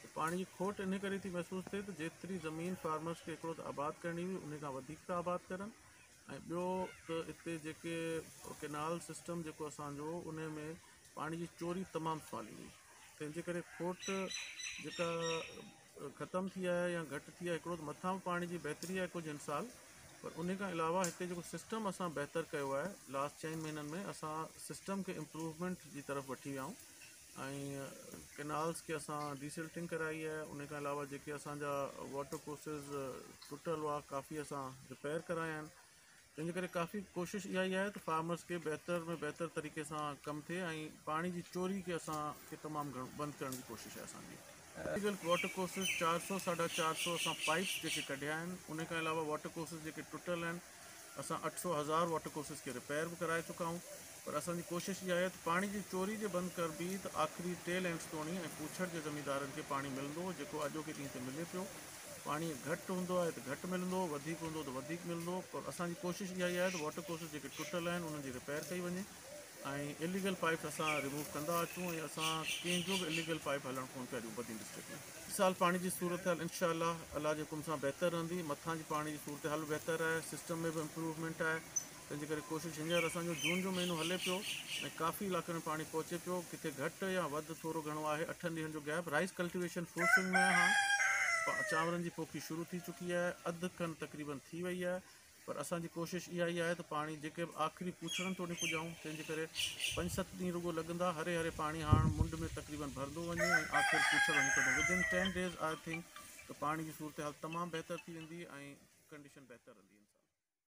ته پاڻي جي کوٽ انهي ڪري ٿي محسوس ٿئي ته جيتري زمين فارمرز کي هڪڙو ته آباد ڪرڻي هئي انهي کان وڌيڪ ٿا آباد ڪرن ۽ ٻيو ته اتي جيڪي ڪينال سسٽم جيڪو اسان جو انهي ۾ پاڻي جي چوري تمام سوالي هئي تنهن جي ڪري کوٽ جيڪا ختم ٿي آهي يا گهٽ ٿي آهي هڪڙو ته مٿان به پاڻي جي بهتري آهي ڪجهه هن سال پر انهي کان علاوه هتي جيڪو سسٽم اسان بهتر ڪيو آهي لاسٽ چئن مهينن ۾ اسان سسٽم کي امپروومينٽ جي طرف وٺي ويا آهيون ۽ ڪئنالز کي اسان ڊي سلٽنگ ڪرائي آهي ان کان علاوه جيڪي اسانجا واٽر ڪورسز ٽٽل هئا ڪافي اسان رپيئر ڪرايا آهن تنهنجي ڪري ڪافي ڪوشش اها ئي آهي ته فارمرز کي بهتر ۾ بهتر طريقي سان ڪم ٿئي ۽ پاڻي جي چوري کي اسان کي تمام گهڻو بند ڪرڻ جي ڪوشش آهي اسانجي انڊيوڊيل واٽر ڪورسز چار سؤ ساڍا چار سؤ اسان پائيپس جيڪي ڪڍيا آهن ان کان علاوه واٽر ڪورسز جيڪي ٽٽل آهن اسان اٺ سؤ هزار واٽر ڪورسز کي ريپيئر به ڪرائي چڪا آهيون پر اسان جي ڪوشش اها آهي ته پاڻي جي چوري جي بند ڪربي ته آخري ٽي لينڊز توڻي ۽ پوڇڙ جي زميندارن کي پاڻي ملندو جيڪو اڄوڪي ڏينهن تي ملي پيو پاڻي گهٽ هوندو آهي ته گهٽ ملندو وڌيڪ هوندو ته وڌيڪ ملندو پر اسان جي ڪوشش اها ئي آهي ته واٽر ڪورسز جيڪي ٽٽل آهن انهن جي ريپيئر ڪئي وڃي ۽ اليگل پائيپ اسان ريموو ڪندا اچون ۽ اسان ڪنهن جو به اليگل پائيپ هلڻ ڪونه پيا ڏيون بدين ڊسٽرڪٽ ۾ هي سال پاڻي جي صورتحال انشاء الله الله جي حڪم سان بهتر رهندي مٿان جي پاڻي جي صورتحال به بهتر آهي سسٽم ۾ به امپروومينٽ آهي تنهن جي ڪري ڪوشش هينئر اسان جو جون جو مهينو هلي پيو ۽ ڪافي علائقن ۾ پاڻي پهچي پيو ڪٿي گهٽ يا وڌ ٿورو گهڻو آهي اٺن ڏينهن جو gap rice cultivation full swing ۾ آهي چانورن جي پوکي شروع ٿي چڪي آهي اڌ کن تقريبن ٿي وئي آهي پر اسان جي ڪوشش اها ئي آهي ته پاڻي جيڪي به آخري پوڇڙن توڙي پڄائون، تنهن جي ڪري پنج ست ڏينهن رڳو لڳندا، هري هري پاڻي هاڻ منڊ ۾ تقريبن ڀرندو وڃي ۽ آخر پوڇڙ هڪدم Within ten days I think ته پاڻي جي صورتحال تمام بهتر ٿي ويندي ۽ ڪنڊيشن بهتر رهندي انسان